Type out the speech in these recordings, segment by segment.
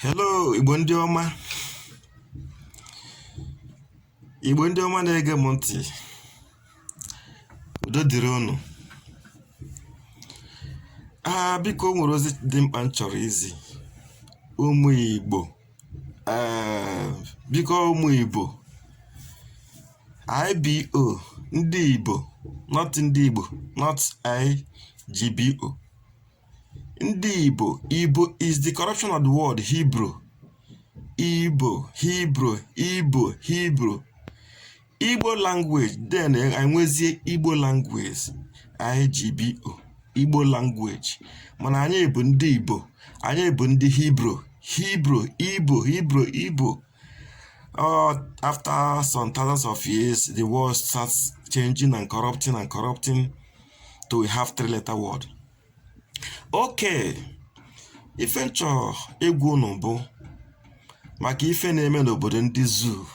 hello igbo ndị ọma igbo ndị ọma na-ege m ntị udo dịrị unu aa ah, biko nwere ozi dị mkpa m chọrọ izi ụmụ igbo eh, biko ụmụ ibo ibo ndị ibo not ndị igbo not igbo ndị Ibo Ibo is the corruption of the word Hebrew Ibo Hebrew Ibo Hebrew Igbo language then enwezie Igbo language IGBO Igbo language mana anyị bụ ndị Ibo anyị bụ ndị Hebrew Hebrew Ibo Hebrew Ibo Uh, after some thousands of years, the word starts changing and corrupting and corrupting. so we have three letter word okay ife m chọ ịgwa unu bụ maka ife na-eme n'obodo ndị zoo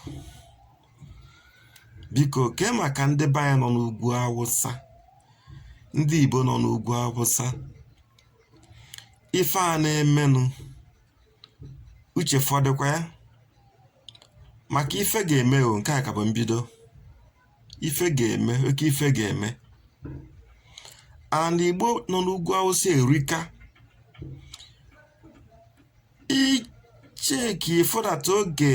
biko kee maka ndị be anyị nọ n'ugwu awụsa ndị igbo nọ n'ugwu awụsa ife a na-emenụ uche fọdụkwa ya maka ife ga-eme o nke a ka bụ mbido ife ga-eme oke ife ga-eme and igbo nọ n'ugwu awụsa erika icheki ifodata oge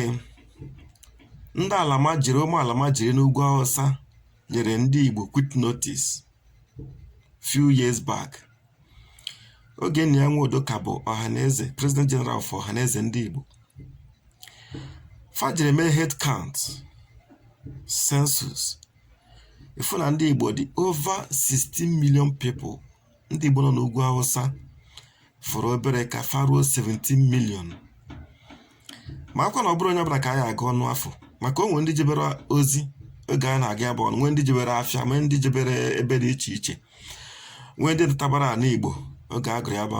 ndị almajiri ụmụ almajiri n'ugwu awụsa nyere ndị igbo quit notice few years back oge nnia nwodo ka bụ ọhaneze president general of ọhaneze ndị igbo fa jere mee head count census a fụ na ndị igbo dị over 16 million people ndị igbo nọ n'ugwu awụsa fọrọ obere ka fa ruo 17 million makwa na ọ bụrọ onye ọbụla ka a ya-agụ ọnụ afụ maka o nwere ndị jebere ozi oge a na-agụ ya bụ ọnụ nwee ndị jebere afịa nwee ndị jebere ebe dị iche iche nwee ndị natabara anị igbo oge a gụrụ ya bụ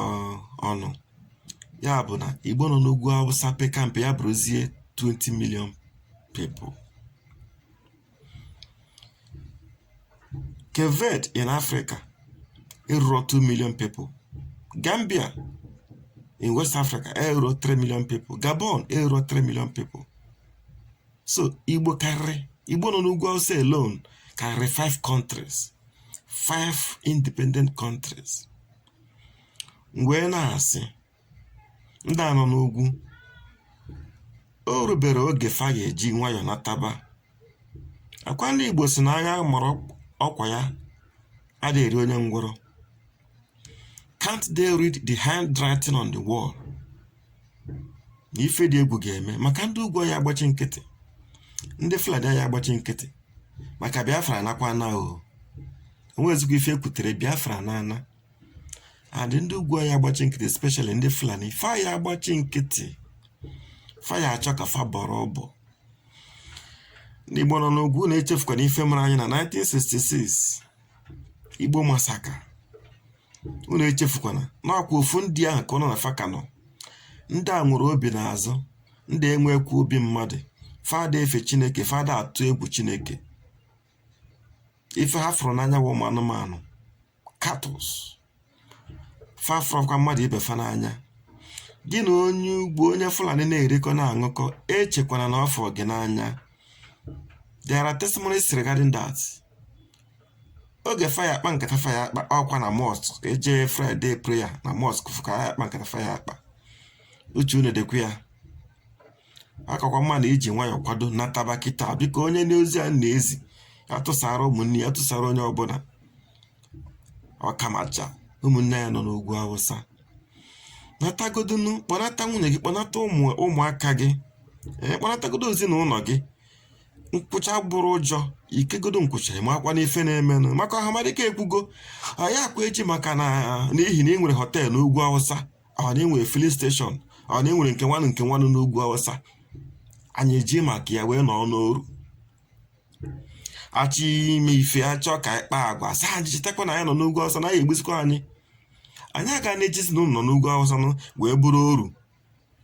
ọnụ ya bụ na igbo nọ n'ugwu awụsa peka mpe ya bụrụzie 20 million people Cape Verde in Africa eruro 2 million people Gambia in West Africa eruro 3 million people Gabon eruro 3 million people so Igbo karịrị Igbo nọ n'ugwu Awụsa alone karịrị 5 countries 5 independent countries wee na-asị ndị a nọ n'ugwu o rubere oge fa ya eji nwayọ nataba akwa ndị igbo sị na agha mara ọkwa ya adịghị eri onye ngwọrọ can't they read the handwriting on the wall na ife dị egwu ga-eme maka ndị ugwu aya agbachi nkịtị ndị fulani aya agbachi nkịtị maka biafra anakwana o o nwezikwa ife e kwutere biafra na-ana and ndị ugwu aya agbachi nkịtị especially ndị Fulani faya agbachi nkịtị faya achọ ka fa bọrọ ọbọ n'Igbo nọ n'ugwu unu echefukwana ife mere anyị na 1966 Igbo massacre unu echefukwana akwa ofu ndị ahụ ka nọ na fa ka nọ ndị a nwere obi n'azụ ndị enwekwa obi mmadụ fa ada efe chineke fa ada atụ egwu chineke ife ha fụrụ n'anya bụ ụmụ anụmanụ cattle fa afụrọkwa mmadụ ibe fa n'anya gị na onye ugwu onye fulani na-erikọ na-aṅụkọ echekwana na ọ fụrụ gị n'anya there are testimonies regarding that oge faya akpa nkata faya akpa ọkwa na mosque e je friday prayer na mosque afụ ka a ya akpa nkata faya akpa uche unu dịkwa ya akakwa mma na iji nwayọọ kwado nataba kịta biko onye nụ ozi a na-ezi ya tụsara ụmụnne ya tụsara onye ọbụla ọkamacha ụmụnne ya nọ n'ugwu awụsa natagodunu kpọnata nwunye gị kpọnata ụmụaka gị ee kpọnatagodu ezinụnọ gị nkwụcha abụrọ ụjọ i kegodu nkwụcha makwa na ife na-emenụ maka ọhamadike ekwugo ayakwa eji maka na n'ihi na ị nwere hotel n'ugwu awụsa or na ị nwere filling station or na ị nwere nke nwanụ nke nwanụ n'ugwu awụsa anyị eji maka ya wee nọọ n'oru a chọọ ime ife a chọọ ka anyị kpaa agwa sị anyị chetakwa na anyị nọ n'ugwu awụsa na a ya egbusikwa anyị anyị aga na-ejizi na unu nọ n'ugwu awụsa nọ wee bụrụ oru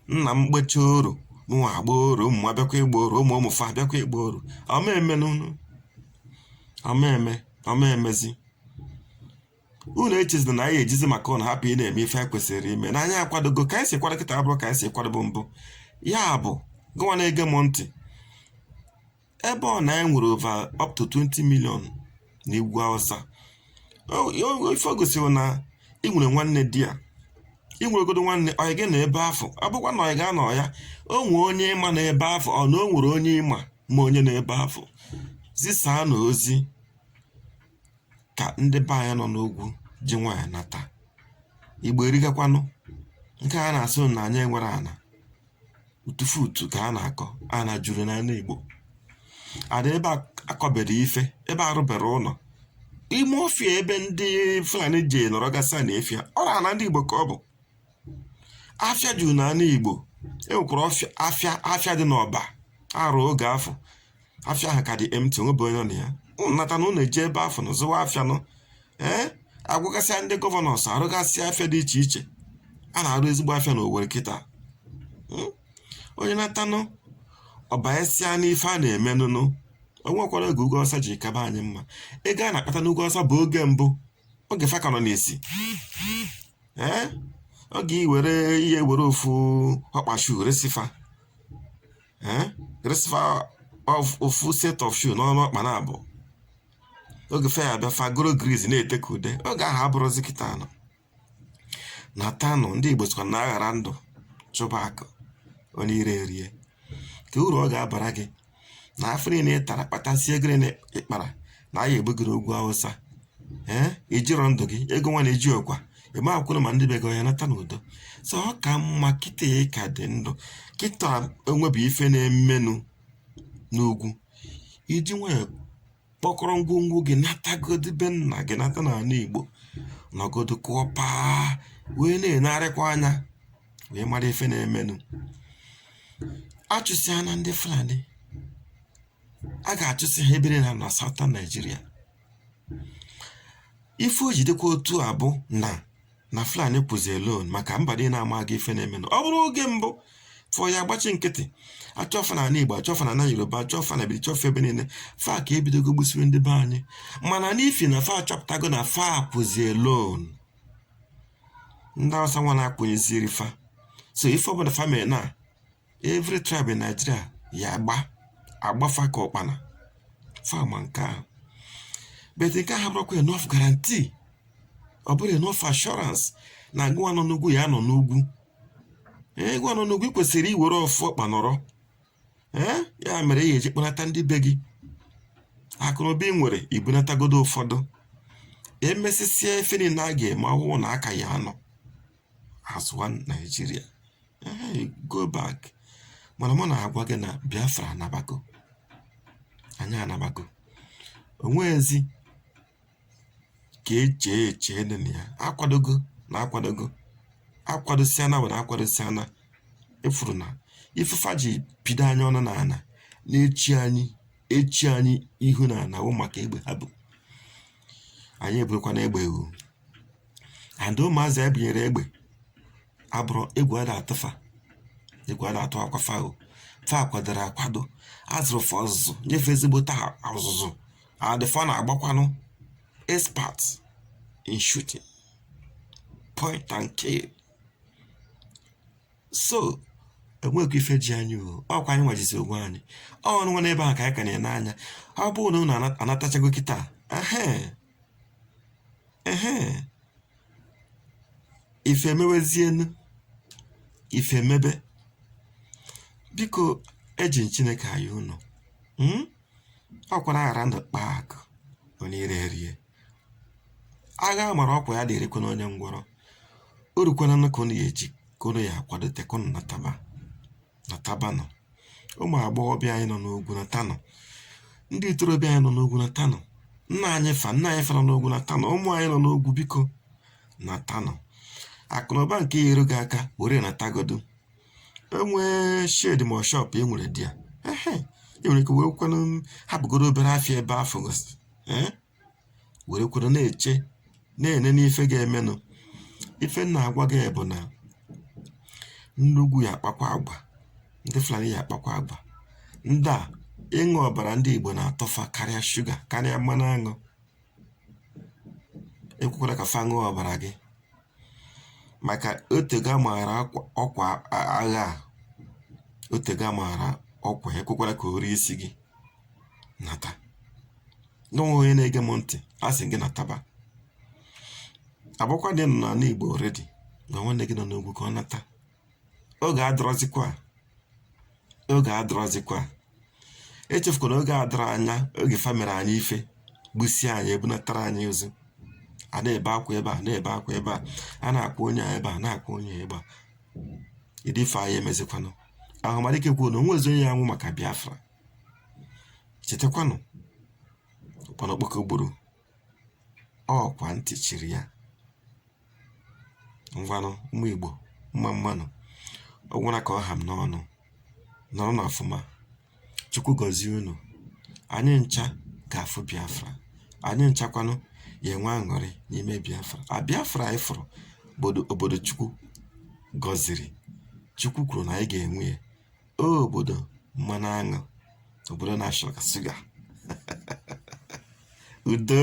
nna m gbachaa oru mụnwa agbaa oru ụmụ m abịakwa ịgba oru ụmụ ụmụ fa abịakwa ịgba oru ọ ma eme nụ ọ ma eme ọ ma emezi unu echezina na anyị ejizi maka unu hapụ ịna-eme ife anyị kwesịrị ime na anyị akwadogo ka anyị si kwado kịta abụrọ ka anyị si kwadobu mbụ ya bụ gụwa na-ege m ntị ebe ọ na anyị nwere over up to 20 million n'ugwu awụsa ife o gosiri na ị nwere nwanne there i nwerọgodu nwanne ọyị gị nọ ebe afụ ọ bụkwa na ọyị gị anọ ya o nwee onye ị ma nọ ebe afụ or na o nwere onye ị ma ma onye nọ ebe afụ zisaanụ ozi kà ndị be anyị nọ n'ugwu ji nwayọ nàtà ìgbo erigakwanụ ǹke a nà-àsị unu nà ànyị enwerọ ànà ùtufu ùtù kà a nà-àkọ ànà jùrù nà ana ìgbò àna ebe a kọbèrè ife ebe a rụbèrè ụnọ̀ ime ọfịà ebe ndị fulani jè nọrọ gasịa nà ọfịa ọ bụrọ àna ndị ìgbò kà ọ bụ̀ afịa jùrù nà ana ìgbò e nwèkwàrà afịa dị n'ọ̀bà arụ̀ ogè afụ̀ afịa ahụ ka dị empty o nwebe onye nọ na ya ụnụ nata na ụnụ eje ebe afụ na zụwa afịa nụ ee agwụgasịa ndị governors arụgasịa afịa dị iche iche a na-arụ ezigbo afịa na Owerri kịta hmm? onye natanụ ọ banyesịa n'ife a na-emenụ o nwekwara oge ugwu awụsa ji kaba anyị mma ego a na-akpata n'ugwu awụsa bụ oge mbụ oge fa ka nọ n'isi ee oge i were i ya-ewere ofu ọkpa shoe resi fa ee resị fa ofu set of shoe n'ọnụ ọkpa naabọ oge fa ya-abịa fa goro grease na-ete ka ude oge ahụ abụrọzi kịta ụnụ natanụ ndị igbo sịkwa na a ghara ndụ chụba akụ onye iro erie kee uru ọ ga-abara gị na afụfụ niile ị tara kpatasịa ego niile ị kpara na a ya-egbu gị n'ugwu awụsa ee i jirọ ndụ gị ego nwa na-eji ọkwa eme akwụkwọ ma ndị bego ya nata n'udo so ọ ka mma kịta ị ka dị ndụ kịta enwebu ife na-emenụ n'ugwu i ji nwayọọ kpọkọrọ ngwongwo gị natagodi be nna gị nata n'ana igbo nọgodo kụọ paa wee na-enegharịkwa anya wee mara ife na-emenụ a chụsịa na ndị fulani a ga-achụsị ha ebe niile na Southern Nigeria ife o ji dịkwa otu a bụ na na Fulani kwụzi alone maka mba dị na-ama aga ife na-eme ọ bụrụ oge mbụ fa ya-agbachi nkịtị a chụọ fa na Igbo a chụọ fa na Yoruba a chụọ fa na bichọ ebe niile fa ka ebidogo gbusiri ndị be anyị mana n'ifi na fa achọpụtago na fa kwụzi alone ndị awụsa nwa na-akwụnyeziri fa so ife ọbụla fa mere na every tribe in Nigeria ya agba agba fa ka ọkpana fa ma nke ahụ but nke ahụ abụrọkwa enough guarantee ọ bụrọ enough assurance na gị nwa nọ n'ugwu ya nọ n'ugwu ee gị nwa nọ n'ugwu kwesịrị iwere ofu ọkpa nọrọ ee ya mere i ya-eji kpọnata ndị be gị akụnụba ị nwere i bunatagodo ụfọdụ emesịsịa ife niile a ga-eme ọ bụrụ na a ka ya-anọ as one Nigeria Hey, go back. Mana mụ na-agwa gị na Biafra anabago. Anyị anabago. Onwezikwa echiche dị na ya. Akwadogo na akwadogo. Akwadosia na were akwadosia na ị fụrụ na ife fa ji pido anyị ọnụ n'ana na-echi anyị echi anyị ihu n'ana wụ maka egbe ha bu. Anyị eburukwana egbe o. And ụmụazị e bunyere egbe abụrọ egwu a na-atụ fa egwu a na-atụ akwa fago fa kwadoro akwado a zụrụ fa ọzụzụ nye fa ezigbote ọzụzụ and fa na-agbakwanụ expert in shooting point and kill so enwekwa ife ji anyị o ọkwa anyị nwa jizi onwe anyị unu nwa nọ ebe ahụ ka anyị ka na-ene anya ọ bụrụ na unu anatachago kịta ehe ehe ife emewezienụ ife emebe biko eji m chineke ayọ unu mm? ọkwa na a ghara ndụ kpaa akụ onye iro erie agha mara ọkwa ya adị erikwanụ onye ngwọrọ o rukwana ka unu ya eji ka unu ya akwadote ka unu nataba natabanụ, ụmụ agbọghọbịa anyị nọ n'ugwu natanụ, ndị ntorobịa anyị nọ n'ugwu natanụ, nna anyị fa nna anyị fa nọ n'ugwu natanụ, ụmụ anyị nọ n'ugwu biko natanụ. Akụ na ụba nke ya-eru gị aka were natagodu enwee shed ma shop e nwere dị ya e nwere ike wee kwanụ hapụgodu obere afịa ebe afụ gosiri were kwụrụ na-eche na-ene n'ife ga-emenụ ife m na-agwa gị bụ na ndị ugwu ya akpakwa agwa ndị Fulani ya akpakwa agwa ndị a ịṅụ ọbara ndị Igbo na-atọ fa karịa shuga karịa mmanụ aṅụ ekwekwana ka fa ṅụọ ọbara gị maka o tego a maara ọkwa agha a o tego a maara ọkwa ekwekwana ka o rie isi gị nata gị nwa onye na-ege m ntị asị m gị nataba ọ bụkwa na ị nọ n'ana igbo already gwa nwanne gị nọ n'ugwu ka ọ nata oge adịrọzikwa oge adịrọzikwa echefukwana oge adịrọ anya oge fa mere anyị ife gbusie anyị ebunatara anyị ozu a na-ebe akwa ebe a na-ebe akwa ebe a a na-akwa onye a ebe a na-akwa onye a ebe a ọ dị ife anyị mezikwanụ Ọhamadike kwuo na onwezi onye ya-anwụ maka biafra chetakwanụ ụkpana okpoko gburu ọkwa ntị chiri ya ngwanụ ụmụ igbo mma mma nụ ọ gwụna ka ọ ha m n'ọnụ nọrọnụ ọfụma Chukwu gọzie unu. Anyị ncha ga-afụ Biafra. Anyị nchakwanụ ga-enwe aṅụrị n'ime Biafra. A Biafra anyị fụrụ bụ obodo Chukwu gọziri. Chukwu kwuru na anyị ga-enwe ya. Ọ obodo mmanụ aṅụ, obodo na-asọ ka suga. Udo.